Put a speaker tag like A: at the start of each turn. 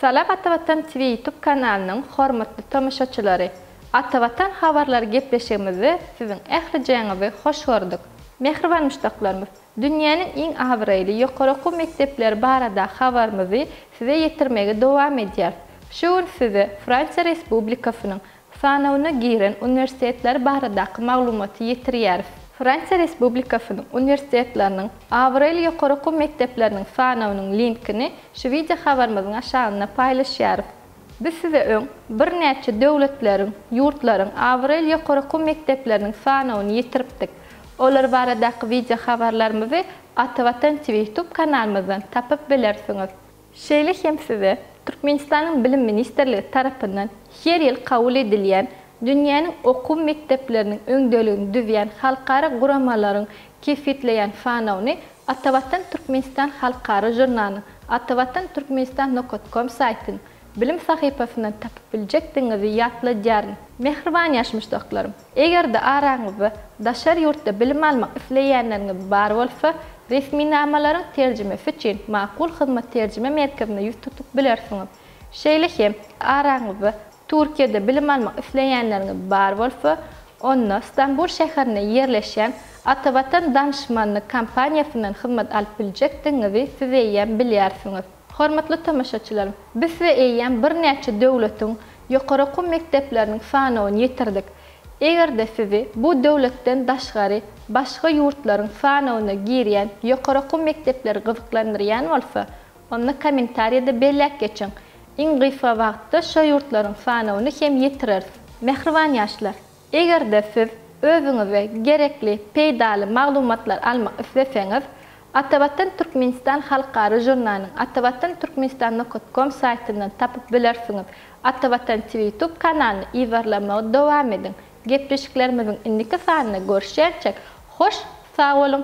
A: Salam Atavatan TV ýutub kanalynyň hormatly tomaşaçylary! Atavatan habarlary gepleşigimizde siziň ählijaňyzy hoş gördük. Mähriban muşdaklarymyz, dünýäniň iň abraýly ýokary okuw mekdepleri baradaky habarymyzy size ýetirmegi dowam edýäris. Şu gün size Fransiýa Respublikasynyň Sanawyna giren uniwersitetler baradaky maglumaty ýetirýäris. Fransiýa Respublikasynyň uniwersitetleriniň, abraýly ýokary okuw mekdepleriniň sanawynyň linkini şu wideo habarymyzyň aşagynda paýlaşýarys. Biz size öň birnäçe döwletleriň, ýurtlaryň abraýly ýokary okuw mekdepleriniň sanawyny ýetiripdik. Olar baradaky wideo habarlarymyzy Atavatan TV ýutub kanalymyzdan tapyp bilersiňiz. Şeýle hem size Türkmenistanyň Bilim ministrligi tarapyndan her ýyl kabul edilýän dünýäniň okuw mekdepleriniň öňdeligini düzýän halkara guramalaryň kesgitleýän sanawyny Atavatan Türkmenistan halkara žurnalynyň Atavatan Türkmenistan nokat kom saýtynyň bilim sahypasyndan tapyp biljekdigiňizi ýatladýaryn. Mähriban ýaş muşdaklarym! Eger-de araňyzda daşary ýurtda bilim almak isleýänleriňiz bar bolsa, resminamalaryň terjimesi üçin Makul Hyzmat terjime merkezine ýüz tutup bilersiňiz. Şeýle hem, araňyzda Türkiýede bilim almak isleýänleriňiz bar bolsa, onda Stambul şäherinde ýerleşýän Atavatan Danışmanlyk kompaniýasyndan hyzmat alyp biljekdigiňizi siz eýýäm bilýärsiňiz. Hormatly tomaşaçylar, biz size eýýäm birnäçe döwletiň ýokary okuw mekdepleriniň sanawyny ýetirdik. Eger-de sizi bu döwletden daşgary başga ýurtlaryň sanawyna girýän ýokary okuw mekdepleri gyzyklandyrýan bolsa, onda kommentariýada belläp geçiň. Iň gysga wagtda şo ýurtlaryň sanawyny hem ýetireris. Mähriban ýaşlar! Eger-de siz özüňize gerekli peýdaly maglumatlar almak isleseňiz, Atavatan Türkmenistan halkara žurnalyny atavatanturkmenistan nokat kom saýtyndan tapyp bilersiňiz. Atavatan TV YouTube kanalyny yzarlamagy dowam ediň. Gepleşiklerimiziň indiki sanynda görüşýänçäk, hoş sag boluň!